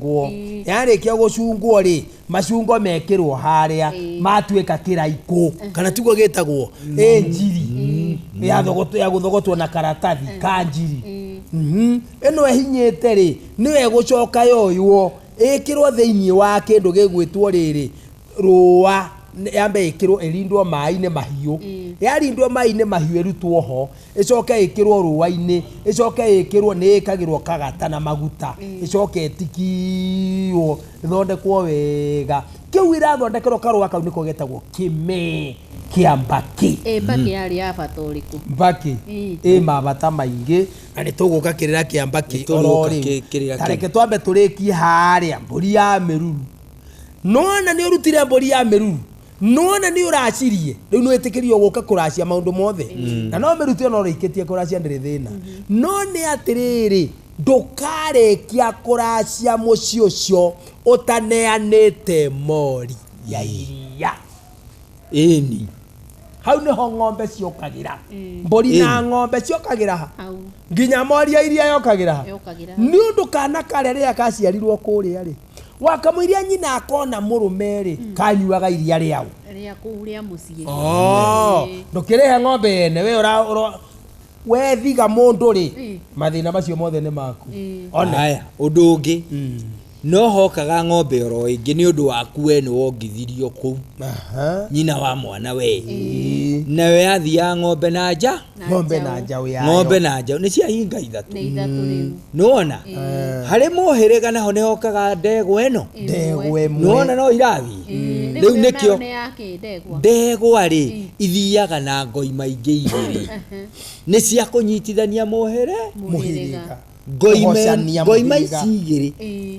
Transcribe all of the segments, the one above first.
gũcungwo yarĩkia gũcungwo rĩ macungo mekĩrwo harĩa matuĩka kĩraikũ kana tiguo gĩtagwo ĩ njiri ya thogoto- ya gũthogotwo na karatathi ka njiri Mhm. ĩno ĩhinyĩte rĩ nĩyo ĩgũcoka yoywo ĩkĩrwo thĩinĩ wa kĩndũ gĩgwĩtwo rĩrĩ rũa yambe ĩkĩrwo ĩrindwo maĩ-inĩ mahiũ mm. yarindwo maĩ-inĩ mahiũ ĩrutwo ho ĩcoke ĩkĩrwo rũa-inĩ ĩcoke ĩkĩrwo nĩ ĩkagĩrwo kagata na maguta mm. ĩcoke ĩtikiwo ĩthondekwo wega kĩu irathondekerwo karũa kau nĩko getagwo kĩmee kĩa mbakĩ eh, mbakĩ mm. yarĩ ya bata ũrĩkũ mbakĩ mm. ĩ mabata maingĩ na nĩ tũgũka kĩrĩra kĩa mbakĩ oro rĩu tareke twambe tũrĩkie harĩa mbũri ya mĩruru Nĩwona nĩũrutire mbũri ya mĩruru nĩwona nĩũracirie rĩu nĩwĩtĩkĩrio gũka kũracia maũndũ mothe mm. na no mĩruti ona ũrĩkĩtie kũracia ndĩrĩ thĩna mm-hmm. no nĩ atĩrĩrĩ ndũkarĩkia kũracia mũciĩ ũcio ũtaneanĩte mori ya iria ĩni hau nĩho ng'ombe ciũkagĩra mm. mbũri na ng'ombe ciũkagĩra ha nginya mori ya iria yokagĩra ha nĩ ũndũ kana karĩa rĩrĩa kaciarirwo kũrĩa rĩ wakamũiria nyina akona mũrũme rĩ mm. kanyuaga iria rĩau rĩa kũu rĩa mũciĩ oh, ndũkĩrĩhe ng'ombe yene we wethiga mũndũ rĩ mm. mathĩna macio mothe nĩ maku mm. onaya ũndũ ũngĩ no hokaga ng'ombe oro ĩngĩ nĩ ũndũ waku we nĩ wongithirio kũu nyina wa mwana we nayo yathiaga ng'ombe na nja ng'ombe na njaũ yayo ng'ombe na njaũ nĩ cia hinga ithatũ nĩ ithatũ rĩu nĩwona harĩ mũhĩrĩga naho nĩhokaga ndegwa ĩno ndegwa ĩmwe nĩwona no irathiĩ rĩu rĩu nĩkĩo nĩ ya kĩndegwa ndegwa rĩ ithiaga na ngoi maingĩ igĩrĩ nĩ cia kũnyitithania mũhĩre mũhĩrĩga ngoi me- Kũgocania ngoi mũhĩrĩga. maici igĩrĩ Ĩĩ.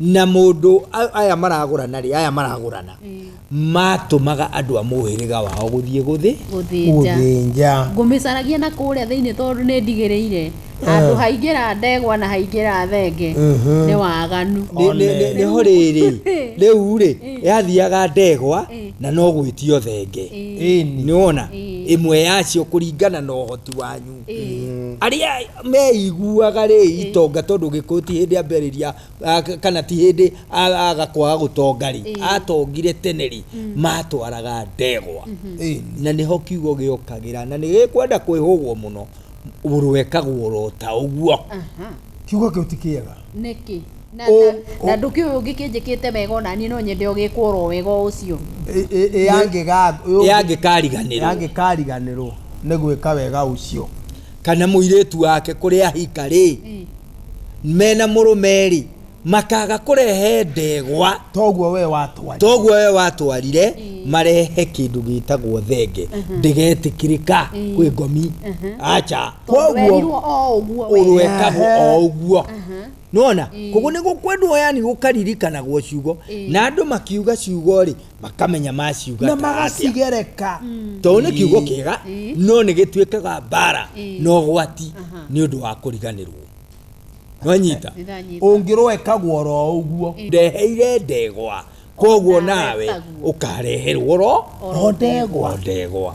na mũndũ aya maragũrana rĩ aya maragũrana matũmaga andũ a mũhĩrĩga wao gũthiĩ gũthĩ gũthĩnja ngũmĩcaragia na kũrĩa thĩinĩ tondũ nĩ ndigĩrĩire handũ haingĩra ndegwa na haingĩra thenge nĩ waganu Nĩ- nĩ- nĩ- nĩho rĩrĩ rĩu rĩ yathiaga ndegwa na no gwĩtio thenge Ĩni. nĩwona ĩmwe yacio kũringana na ũhoti wanyu arĩa meiguaga rĩ itonga tondũ gĩkũyũ ti hĩndĩ ambĩrĩria ah, k- kana ti hĩndĩ a- aga kwaga gũtonga rĩ Ĩĩ. atongire tene rĩ matwaraga ndegwa Ĩĩ. na nĩho kiugo gĩokagĩra na nĩgĩkwenda kwĩhũgwo mũno rwekagwo ro ta ũguo Aha. kiugo kĩu ti kĩega nĩkĩ na, Ũ- na, na ndũkĩũĩ ũngĩ kĩnjĩkĩte wega ona niĩ no nyende ũgĩkwo ro wega o ũcio Ĩ- ĩ- ĩ yangĩga- ĩ- yangĩkariganĩrwo yangĩkariganĩrwo nĩ gwĩka wega ũcio kana mũirĩtu wake kũrĩa ahika rĩ mm. mena mũrũme rĩ makaga kũrehe ndegwa toguo we watwarire toguo we watwarire mm. marehe kindu gitagwo thenge mhm. ndigetikirika mm. kwi ngomi mhm. acha koguo urwekagwo o uguo mhm. nona koguo ni gukwendwo yani gukaririrkanagwo ciugo na andu makiuga ciugo ri makamenya maciuga na ta atĩa. magacigereka tondũ nĩ kiugo kĩega Ii. no nĩ gĩtuĩkaga mbara Ii. na ũgwati Aha. nĩ ũndũ wa kũriganĩrwo nwanyita Nĩndanyita. ũngĩroekagwo ro ũguo ndeheire ndegwa koguo nawe Ũkaretagwo. ũkareherwo ro O ndegwa. o ndegwa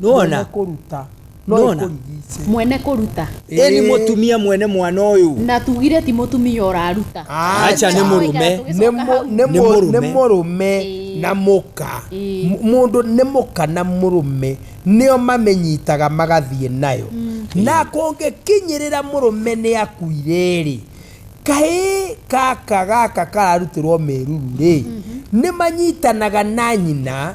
nona kũruta Nona? mwene kũruta eni mutumia mwene mwana uyu na tugire ti mũtumia ũraruta acha ni murume Tũgĩcoka nĩ hau. Nĩ mũrũme. mũrũme Ĩĩ. na mũka Ĩĩ. M- mũndũ nĩ mũka na mũrũme nĩo mamĩnyitaga magathiĩ nayo na kũngĩkinyĩrĩra mũrũme nĩ akuire-rĩ kahĩ gaka gaka kararutĩrwo mĩruru-rĩ nĩ manyitanaga na nyina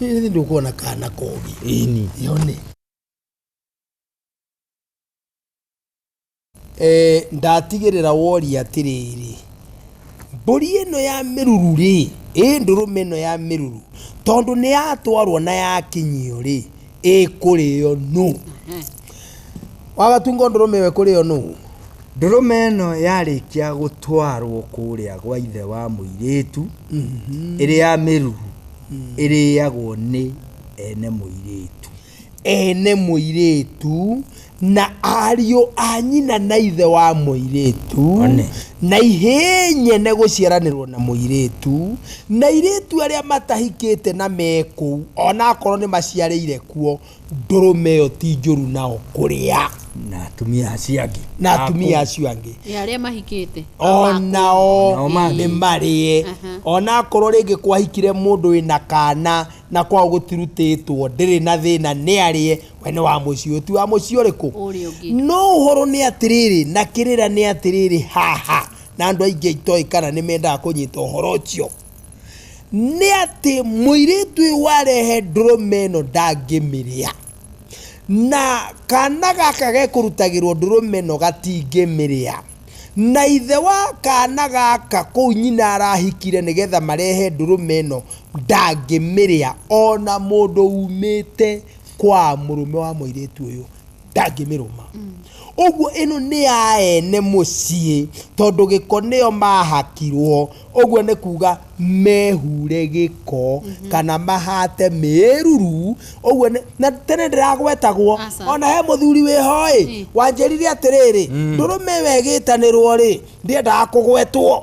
Hihi ndio kuona kana kogi. Ini. Yone. Eh, ndatigirira wori atiriri. Mburi ino ya miruru ri, ĩ ndũrũme ino ya miruru tondu ni yatwarwo na yakinyio ri, ĩ kurio nu. Wagatunga ndũrũme we kurio nu. Ndũrũme ĩno yarĩkia gũtwarwo kũrĩa gwa ithe wa mũirĩtu ĩrĩ ya mĩruru ĩrĩagwo nĩ ene mũirĩtu. Ene mũirĩtu na ariũ a nyina na ithe wa mũirĩtu na ihĩ nyene gũciaranĩrwo na mũirĩtu na airĩtu arĩa matahikĩte na mekũu onakorwo nĩmaciarĩire kuo ndũrũme ĩyo ti njũru nao kũrĩa na atumia acio angĩ na atumia acio angĩ ya arĩa mahikĩte onao Nao marĩe. nĩ marĩe Aha. ona akorwo rĩngĩ kwahikire mũndũ wĩna kana na kwao gũtirutĩtwo ndĩrĩ na thĩna nĩ arĩe we nĩ wa mũciĩ ũyũ ti wa mũciĩ ũrĩkũ Ũrĩa ũngĩ. no ũhoro nĩ atĩrĩrĩ na kĩrĩra nĩ atĩrĩrĩ haha na andũ aingĩ itoĩ kana nĩ mendaga kũnyita ũhoro ũcio nĩ atĩ mũirĩtu ũyũ warehe ndũrũme ĩno ndangĩmĩrĩa na kana gaka gekũrutagĩrwo ndũrũme ĩno gatingĩmĩrĩa na ithe wa kana gaka kũu nyina arahikire nĩgetha marehe ndũrũme ĩno ndangĩmĩrĩa ona mũndũ umĩte kwa mũrũme wa mũirĩtu ũyũ. ndangĩmĩrũma ũguo ĩno nĩ ya ene mũciĩ tondũ gĩko nĩo mahakirwo ũguo nĩ kuga mehure gĩko kana mahate mĩruru ũguo nĩ- na tene ndĩragwetagwo Aca. ona he mũthuri wĩhoĩ Mm. wanjĩrire atĩrĩrĩ ndũrũme ĩyo ĩgĩtanĩrwo rĩ ndĩendaga kũgwetwo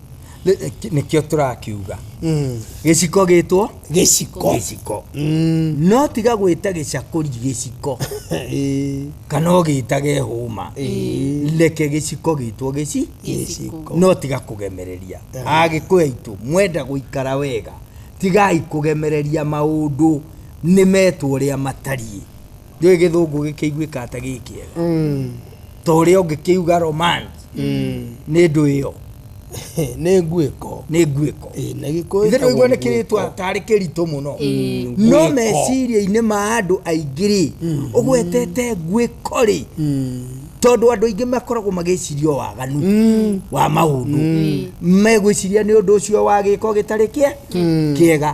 Nĩ- nĩ- nĩkĩo tũrakiuga Mm. gĩciko gĩtwo gĩciko gĩciko Mm. no tiga gwĩta gĩcakũri gĩciko Ĩĩ. kana ũgĩtage hũma reke gĩciko gĩtwo gĩci Gĩciko. no tiga kũgemereria agĩkũya itũ mwenda gũikara wega tigai kũgemereria maũndũ nĩ metwo ũrĩa matariĩ ndio gĩthũngũ gĩkĩiguĩka ata gĩkĩega Mm. ta ũrĩa ũngĩkĩuga romance Mm. nĩ ndũ ĩyo nĩ nguĩko nĩ nguĩko Ĩ, na gĩkũyũ ithe ndũigua nĩ ĩtagwo kĩrĩtwa tarĩ kĩritũ mũno no Nguĩko. meciria-inĩ ma andũ aingĩ rĩ ũgwetete nguĩko rĩ Mm. tondũ andũ aingĩ makoragwo magĩciria o waganu Mm. wa maũndũ megwĩciria nĩ ũndũ ũcio wa gĩko gĩtarĩ kĩe kĩega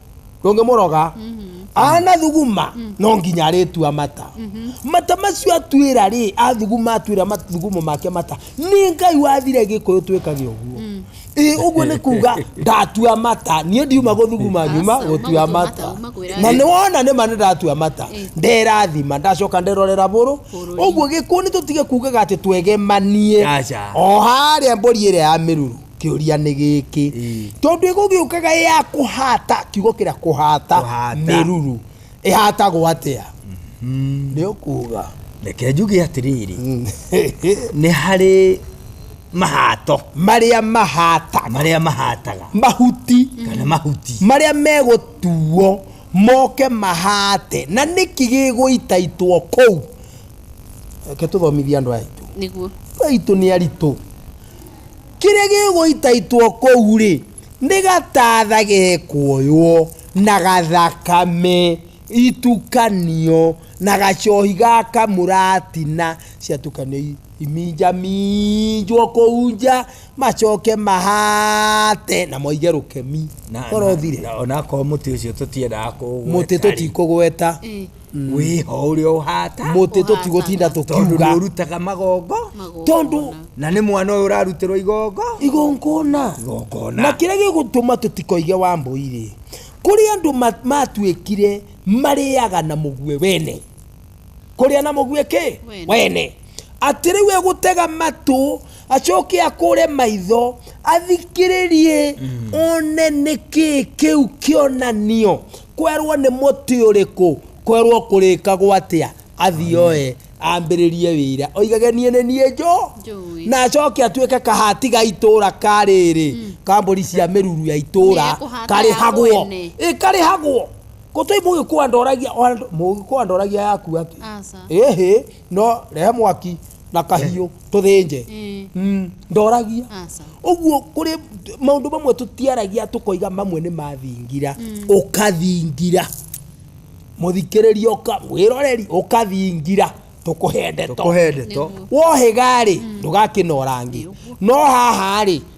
ndũngĩmũroga anathuguma no nginya arĩtua mata mata macio atuĩra rĩ athuguma atuĩra mathugumo make mata nĩ ngai wathire gĩkũyũ twĩkage ũguo ĩ ũguo nĩ kuga ndatua mata niĩ ndiuma gũthuguma nyuma Aca, gũtua uma mata gũtua mata, uma kwĩra na nĩ wona nĩ ma nĩ ndatua mata Ĩ. nderathima ndacoka nderorera bũrũ Bũrũri. ũguo gĩkũyũ nĩ tũtige kugaga atĩ twegemanie Aca. o harĩa mbũri ĩrĩa ya mĩruru kĩũria nĩ gĩkĩ tondũ ĩgũgĩũkaga ĩ ya kũhata kiugo kĩrĩa kũhata mĩruru ĩhatagwo atĩa mm-hmm. nĩ ũkuga reke njuge atĩrĩrĩ mm. nĩ harĩ mahato marĩa mahataga marĩa mahataga mahuti kana mahuti marĩa megũtuo moke mahate na nĩkĩ gĩgũitaitwo kũu reke tũthomithie andũ aya aitũ nĩguo andũ aitũ nĩ aritũ kĩrĩa gĩgũitaitwo kũu rĩ nĩ gatatha gekuoywo na gathakame itukanio na gacohi gaka mũratina ciatukanio i- iminjaminjwo kũu nja macoke mahate na moige rũkemi korothire onakorwo mũtĩ ũcio tũtiendaga kũũgweta mũtĩ rĩ, tũtikũgweta Ĩ. mm. wĩho ũrĩa ũhata mũtĩ tũtigũtinda tũkiuga ũrutaga magongo tondũ na nĩ mwana ũyũ ũrarutĩrwo igongo igongona igongona na kĩrĩa gĩgũtũma tũtikoige wa mbũirĩ kũrĩ andũ matuĩkire marĩaga na mũguĩ wene kũrĩa na mũguĩ kĩ wene atĩ rĩu egũtega matũ acoke akũre maitho athikĩrĩrie mm. one nĩ kĩĩ kĩu kĩonanio Kwerwo nĩ mũtĩ ũrĩkũ? Kwerwo kũrĩkagwo atĩa? Athiĩ oe ambĩrĩrie wĩra oigage niĩ nĩ niĩ njo Njũĩ. na acoke atuĩke kahati ga itũra ka rĩrĩ kambũri cia mĩruru ya itũra Nĩ ekũhata karĩhagwo ya mwene. ĩ karĩhagwo gũtĩ mũgĩkũa ndoragia mũgĩkũa ndoragia yaku atĩ Aca. ĩhĩ no rehe mwaki na kahiũ tũthĩnje Mm, ndoragia Aca. ũguo kũrĩ maũndũ mamwe tũtiaragia tũkoiga mamwe nĩ mathingira ũkathingira mũthikĩrĩria ũka wĩroreri ũkathingira tũkũhe ndeto tũkũhe ndeto wohĩga-rĩ ndũgakĩnora ngĩ no haha-rĩ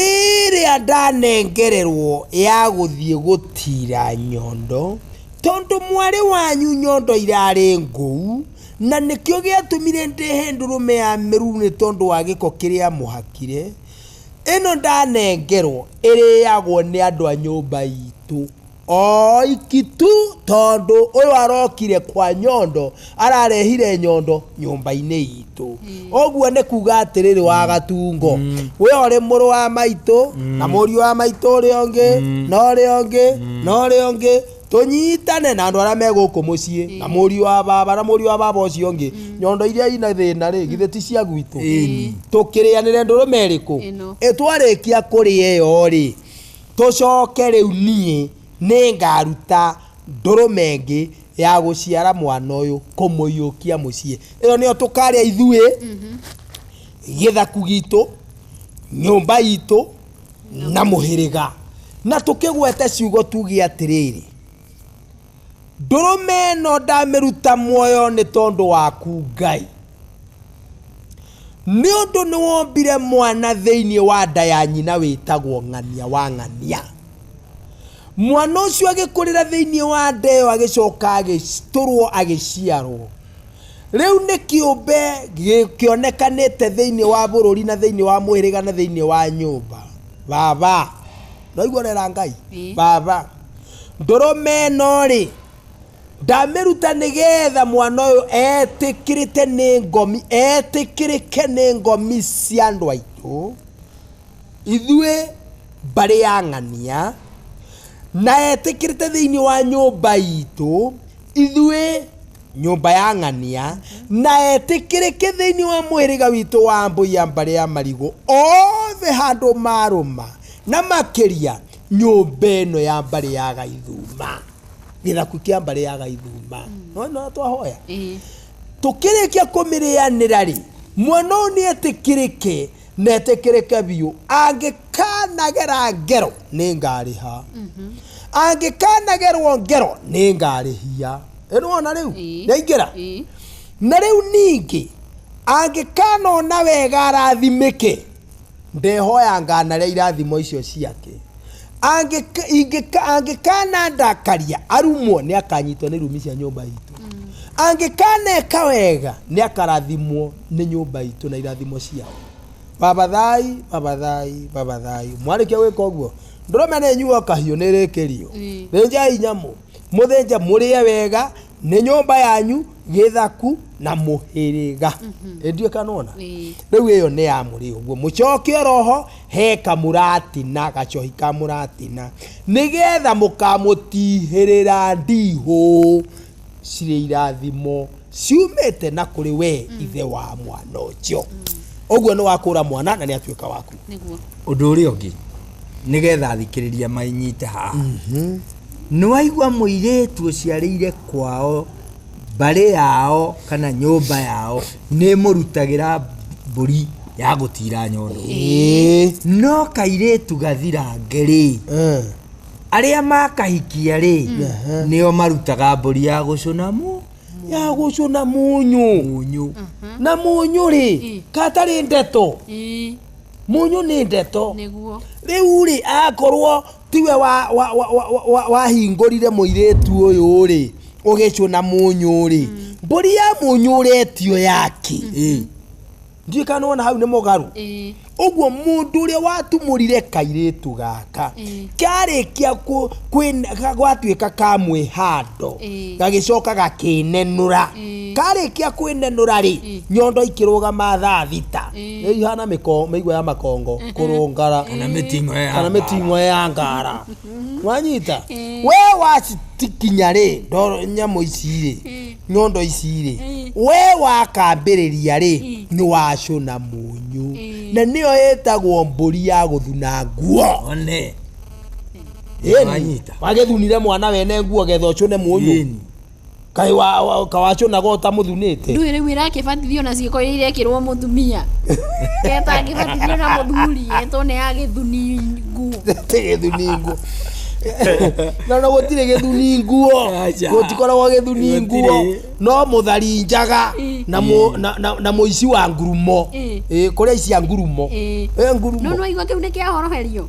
ĩrĩa ndanengererwo ya gũthiĩ gũtira nyondo, tondũ mwarĩ wanyu nyondo irarĩ ngũu, na nĩkĩo gĩatũmire ndehe ndũrũme ya mĩruru nĩ tondũ wa gĩko kĩrĩa mũhakire, ĩno ndanengerwo ĩrĩagwo nĩ andũ a nyũmba itũ. oiki tu tondũ ũyũ arokire kwa nyondo ararehire nyondo nyũmba-inĩ itũ ũguo nĩ kuga atĩrĩrĩ wa gatungo we ũrĩ mũrũ wa maitũ na mũriũ wa maitũ ũrĩa ũngĩ na ũrĩa ũngĩ na ũrĩa ũngĩ tũnyitane na andũ arĩa me gũkũ mũciĩ na mũriũ wa baba na mũriũ wa baba ũcio ũngĩ nyondo iria ina thĩna rĩ githĩ ti cia gwitũ tũkĩrĩanĩre ndũrũme ĩrĩkũ Ĩno. Ĩ twarĩkia kũrĩa ĩyo rĩ Tũcoke rĩu niĩ nĩngaruta ndũrũme ĩngĩ ya gũciara mwana ũyũ kũmũiyũkia mũciĩ. Ĩyo nĩyo tũkarĩa ithuĩ, gĩthaku gitũ, nyũmba itũ na mũhĩrĩga. Na tũkĩgwete ciugo tuge atĩrĩrĩ. ndũrũme ĩno ndamĩruta muoyo nĩ tondũ waku ngai nĩ ũndũ nĩ wombire mwana thĩinĩ wa nda ya nyina wĩtagwo ng'ania wa ng'ania mwana ũcio agĩkũrĩra thĩinĩ wa nda ĩyo agĩcoka agĩtũrwo agĩciarwo rĩu nĩ kĩũmbe gĩ- kĩonekanĩte thĩinĩ wa bũrũri na thĩinĩ wa mũhĩrĩga na thĩinĩ wa nyũmba baba noigua rera ngai Ĩĩ. baba ndũrũme ĩno rĩ ndamĩruta nĩgetha mwana ũyũ etĩkĩrĩte nĩ ngomi etĩkĩrĩke nĩ ngomi cia andũ aitũ ithuĩ mbarĩ ya ng'ania na etĩkĩrĩte thĩinĩ wa nyũmba itũ ithuĩ nyũmba ya ng'ania na etĩkĩrĩke thĩinĩ wa mũhĩrĩga witũ wa mbũia mbarĩ ya marigũ othe handũ marũma na makĩria nyũmba ĩno ya mbarĩ ya gaithuma gĩthaku kĩa mbarĩ ya gaithuma nona twahoya Ĩĩ. tũkĩrĩkia kũmĩrĩanĩra rĩ mwana ũyũ nĩ etĩkĩrĩke na etĩkĩrĩke biũ angĩkanagera ngero nĩ ngarĩha angĩkanagerwo ngero nĩ ngarĩhia ĩnwona rĩu Ĩĩ. yaingĩra Ĩĩ. na rĩu ningĩ angĩkanona wega arathimĩke Ndehoyanga narĩa irathimo icio ciake. Angĩka- ingĩka- Angĩkanandakaria arumwo nĩ akanyitwo nĩ rumi cia nyũmba itũ. Angĩkaneka wega nĩ akarathimwo nĩ nyũmba itũ na irathimo ciao. Baba thai, baba thai, baba thai. Mwarĩkia gwĩka ũguo, ndũrũme nĩ nyuo kahiũ nĩ rĩkĩrio. Ĩĩ. Thĩnjai nyamũ, mũthĩnje mũrĩe wega, nĩ nyũmba yanyu gĩthaku na mũhĩrĩga ĩndiĩ kanona Ĩĩ. rĩu ĩyo nĩ ya mũrĩ ũguo mũcoke oroho he kamũratina gacohi ka mũratina nĩgetha mũkamũtihĩrĩra ndihũ cirĩ irathimo ciumĩte na kũrĩ we ithe wa mwana ũcio ũguo nĩ wakũra mwana na nĩ atuĩka waku nĩguo ũndå å rä a å ngä nĩgetha athikĩrĩria mainyite haha mhm. nĩwaigua mũirĩtu ũciarĩire kwao mbarĩ yao kana nyũmba yao nĩ mũrutagĩra mbũri ya gũtira nyondo no kairĩtu gathirange rĩ eh. arĩa makahikia rĩ nĩo marutaga mbũri ya gũcũna mu ya gũcũna munyu na munyu rĩ katarĩ ndeto Mũnyũ nĩ ndeto. Nĩguo. Rĩu rĩ, akorwo tiwe wahingũrire mũirĩtu ũyũ rĩ, ũgĩcũna mũnyũ rĩ, mm. mbũri ya mũnyũ ũretio yaki. Mm-hmm. Ndiĩ kana wona hau nĩ mũgarũ. Ũguo mũndũ ũrĩa watumũrire kairĩtu gaka, karĩkia gwatuĩka ka mwĩhando, gagĩcoka gakĩnenũra. Karĩkia kwĩnenũra rĩ, nyondo ikĩrũgama thaa thita. nĩ ihana mĩko- mĩigua ya makongo kũrũngara Kana mĩting'o ya kana ngara. mĩting'o ya ngara wanyita we wacitikinya rĩ ndoro nyamũ ici rĩ nyondo ici rĩ we wakambĩrĩria rĩ nĩ wacũna mũnyũ na nĩyo ĩtagwo mbũri ya gũthuna nguo one Ĩni, Wanyita. wagĩthunire mwana wene nguo getha ũcũne mũnyũ Ĩni. Kaĩ wa, wa, kawacunaga ũtamũthunĩte? Ndũĩ rĩu ĩrakĩbatithio na ciĩko iria irekĩrwo mũtumia. Ketangĩbatithio na mũthuri, ĩtwo nĩ ya gĩthungu. Tĩ gĩthuningu. na no gũtirĩ gĩthuni nguo Aca. gũtikoragwo gĩthuni nguo Gũtirĩ. no mũthari njaga Ĩ. na mũ- na- na- na mũici wa ngurumo Ĩ. Ĩ, kũrĩa icia ngurumo Ĩ. Ĩ, ngurumo No nĩwaigua kĩu nĩ kĩa horoherio.